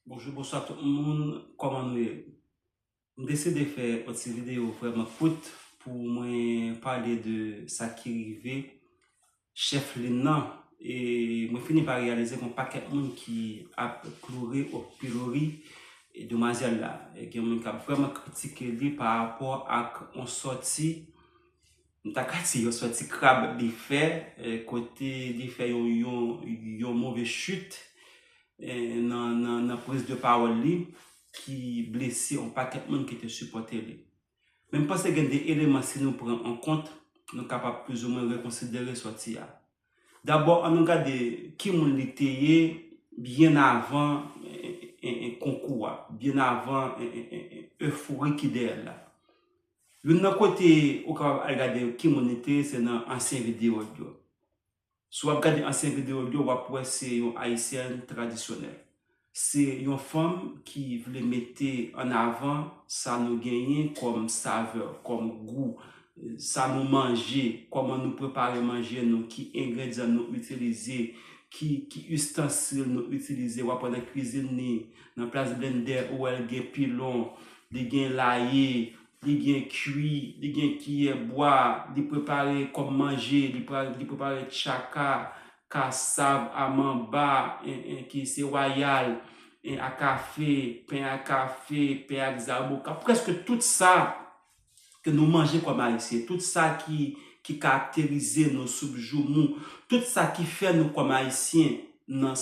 Bonjou bonswa tout moun kòman nou ye m deside fè yon ti video vrèman kout pou mwen pale de sa ki rive chèf lin nan e mwen fini pa reyalize gon pakèt moun ki ap kloure o pilori demwazèl la e gen moun kap vrèman kritike li pa rapò ak yon sòti M ta ka di yon sòti krab li fè kote li fè yon move chit nan priz de pawòl li ki blese yon pakèt moun ki te sipòte li. Men m panse gen 2 eleman si nou pran an kont nou kapab plizoumwen rekonsidere sòti a. Dabò an nou gade ki moun li te ye byen avan konkou a, byen avan eufori ki dèyè l la. Youn nan kote ou kapab al gade ki moun li te se nan ansyen videyo l yo. Si w ap gade ansyen videyo l yo, w ap wè se yon Ayisyèn tradisyonèl. Se yon fanm ki vle mete an avan sa nou genyen kòm savè, kòm gou, sa nou manje, kòman nou prepare manje nou, ki engredyan nou itilize, ki istansil nou itilize. W ap wè nan kwizin li, nan plas blendè, ou wè l gen pilon, Li gen laye, li gen kui, li gen kiyè bwa, li prepare kòm manje, li prepare tchaka, kasav a manba, ki se wayal, a kafe, pen a kafe, pen ak zaboka, prèske tout sa ke nou manje kòm Ayisyen, tout sa ki ki karakterize nou sou bjoumou, tout sa ki fè nou kòm Ayisyen nan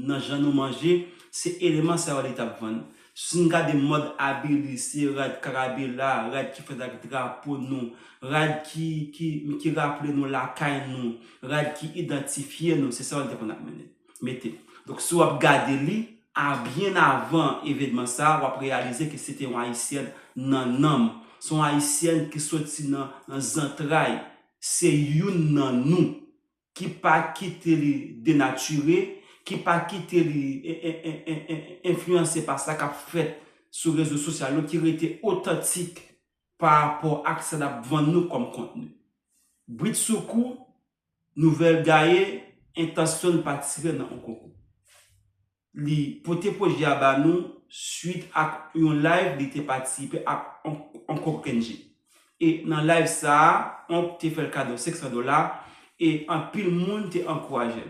nan jan nou manje, se eleman sa yo li tap vann. Si n gade mòd abi li, se rad karabela, rad ki fèt ak drapo nou, rad ki ki ki raple nou lakay nou, rad ki idantifye nou, se sa yo li te konn ap mennen. mete. Donk si w ap gade li, a byen avan evenman sa a, w ap reyalize ke se te yon Ayisyèn nan nanm. Se yon Ayisyèn ki soti nan zantray. Se youn nan nou. Ki pa kite li denatire, ki pa kite li enfliyanse pa sa k ap fèt sou rezo sosyal yo, ki rete otantik pa rapò ak sa l ap vann nou kòm kontni. Britsoukou, Nouvèl gaye entansyon-l patisipe nan on konkou. Li pote pwojè a ba nou swit ak yon live li te patisipe ak onk onk Kenji. E nan live sa a, onk te fè-l kado 500 dola e anpil moun te ankouraje-l.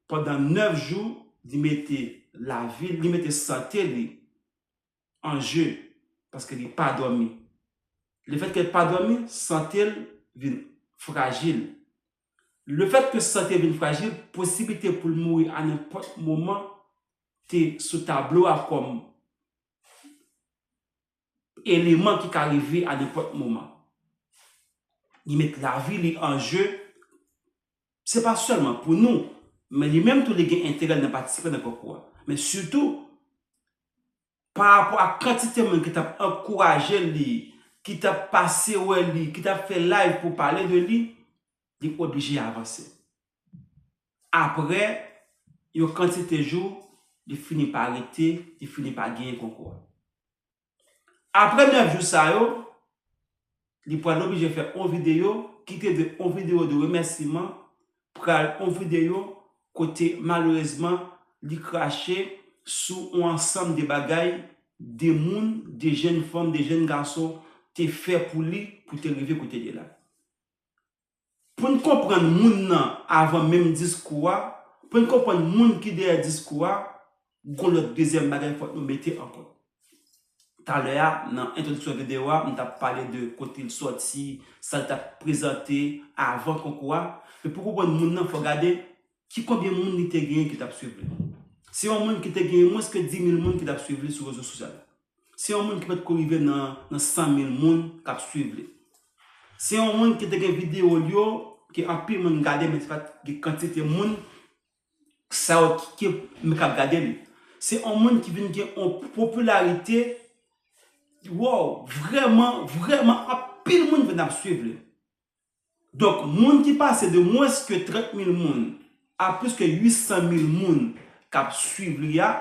Pandan 9 jou, li mete lavi-l, li mete sante li an je paske li pa dòmi. Lefètke l pa dòmi, sante l vin frajil. Lefètke sante l vin frajil, posiblite pou l mouri a nenpòt moman te sou tablo a kòm eleman ki ka rive a nenpòt moman. Li met lavi li an je Se pa sèlman pou nou, men li menm tou li gen enterè nan patisipe nan konkou a. Men sitou, pa rapò ak kantite moun ki t ap ankouraje li, ki t ap pase wè li, ki t ap fè live pou pale de li, li oblije avanse. Apre yon kantite jou, li fini pa rete, li fini pa genyen konkou a. Apre 9 jou sa yo, li pral oblije fè on videyo ki te dwe on videyo de remèsiman pral on videyo kote malerezman li krache sou on ansanm de bagay de moun, de jenn fanm, de jenn gason te fè pou li pou te rive kote li la. Pou n konprann moun nan avan menm diskou a, pou n konprann moun ki dèyè diskou a, gon lòt dezyèm bagay fòk nou mete an kont. Talè a, nan entwodiksyon videyo a, m t ap pale de kote l sòti, sa l t ap prezante avan konkou a. Men pou konprann moun nan, fòk gade ki konbyen moun li te genyen ki t ap swiv li. Se yon moun ki te genyen mwens ke dimil moun ki t ap swiv li sou rezo sosyal. Se yon moun ki potko rive nan 100 mil moun kap swiv li. Se yon moun ki te gen video l yo ke anpil moun gade men se pat gen kantite moun sa yo ki men kap gade li. Se yon moun ki vin gen yon popilarite wow vrèman vrèman anpil moun vin ap swiv li. Donk, moun ki pase de mwens ke 30 mil moun a plis ke 800 mil moun k ap swiv li a,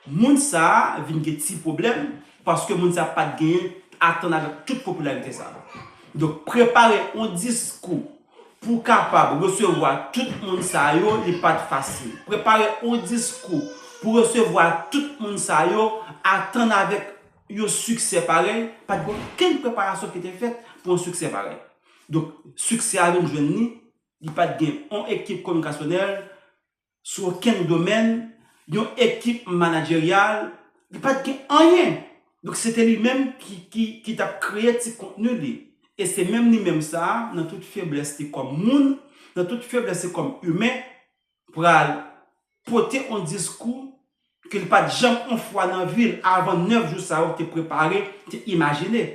moun sa a vin gen ti pwoblèm paske moun sa a pa t genyen atann avèk tout popilarite sa a. Donk, prepare yon diskou pou w kapab resevwa tout moun sa yo, li pa t fasil. Prepare yon diskou pou w resevwa tout moun sa yo, atann avèk Yon siksè parèy, pa t gen okenn preparasyon ki te fèt pou yon siksè parèy. Donk, siksè a vin jwenn li, li pa t gen yon ekip komikasyonèl sou okenn domèn, yon ekip manajeryal, li pa t gen anyen! Donk, se te li menm ki t ap kreye ti kontni li. E se menm li menm sa a, nan tout feblès li kòm moun, nan tout feblès li kòm imen, pral pote on diskou ke li pat janm on fwa nan vi l avan 9 jou sa yo te prepare, te imajine.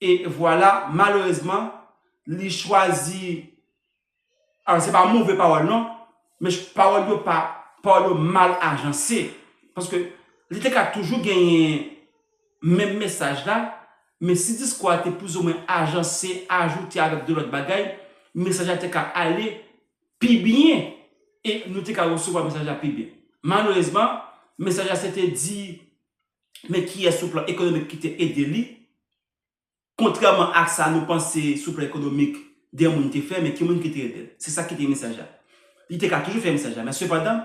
E vwala, malerezman, li chwazi, alò se pa move pawòl non, men pawòl yo pa, pawòl yo mal ajanse. Paske li te ka toujou genyen menm mesaj la, men si diskou a te plouzomwen ajanse, ajoute avèk de lòt bagay, mesaj la te ka ale Pi byen, e nou te ka resevwa mesaj la pi byen. Malerezman, mesaj la se te di men kiyès sou plan ekonomik ki te ede li, kontrèman ak sa nou panse sou plan ekonomik de moun te fè, men ki moun ki te ede l. Se sa ki te mesaj la. Li te ka toujou fè mesaj la, men sepandan,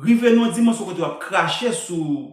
rive nan yon dimansyon kote w ap krache sou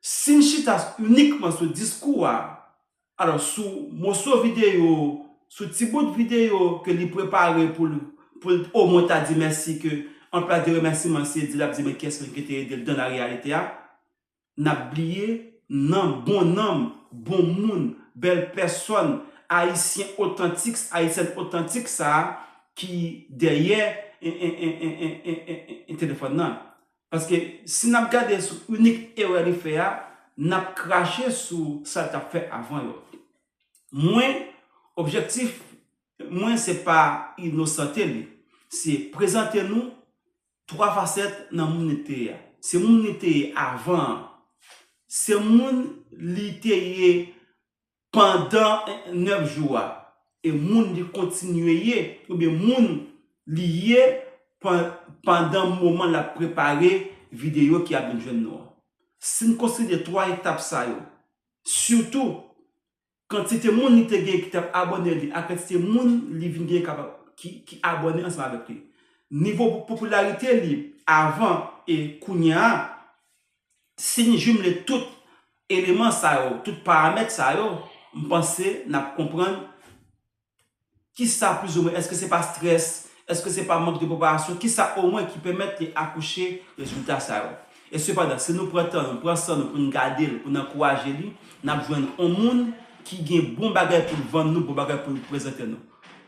Si n chita inikman sou diskou a, alò sou moso videyo, sou ti bout videyo ke li prepare pou l pou l o mwen ta di mèsi ke an plas de remèsiman se di l ap di men kiyès menm ki te ede l dan la reyalite a, n ap bliye nan bon nanm, bon moun, bèl pèsòn, Ayisyen otantiks, Ayisyèn otantik sa a ki dèyè en en en en en en en telefòn nan. Paske si n ap gade sou inik erè li fè a, n ap krache sou sa l t ap fè avan yo. Mwen, objektif Mwen se pa inosante li, se prezante nou 3 fasèt nan moun li te ye a. Se moun li te ye avan an, se moun li te ye Pandan nèf jou a, e moun li kontinye ye, oubyen moun li ye pandan moman l ap prepare videyo ki ap vin jwenn nou an. Si n konsidere twa etap sa yo, sitou kantite moun li te genyen ki t ap abòne li ak kantite moun li vin genyen ki abòne ansanm avèk li, nivo popilarite li avan e kounye a, Si n jimle tout eleman sa yo, tout paramèt sa yo, m panse n ap konprann ki sa plizoumwen, èske se pa strès, èske se pa mank de preparasyon, ki sa omwen ki pèmèt li akouche rezilta sa yo. E sepandan, si nou pran tan nou, pran san nou pou n gade l, pou n ankouraje li, n ap jwenn on moun ki gen bon bagay pou l vann nou, bon bagay pou l prezante nou.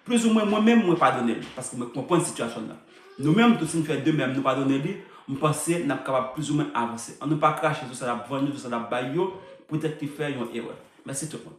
Plizoumwen mwen menm, mwen padone l, paske mwen konprann sitiyasyon l lan. Nou menm tou si n fè de mèm nou padone li, m panse n ap kapab plizoumwen avanse. Annou pa krache sou sa l ap vann yo, sou sa l ap bay yo poutèt li fè yon erè. Mèsi tout moun.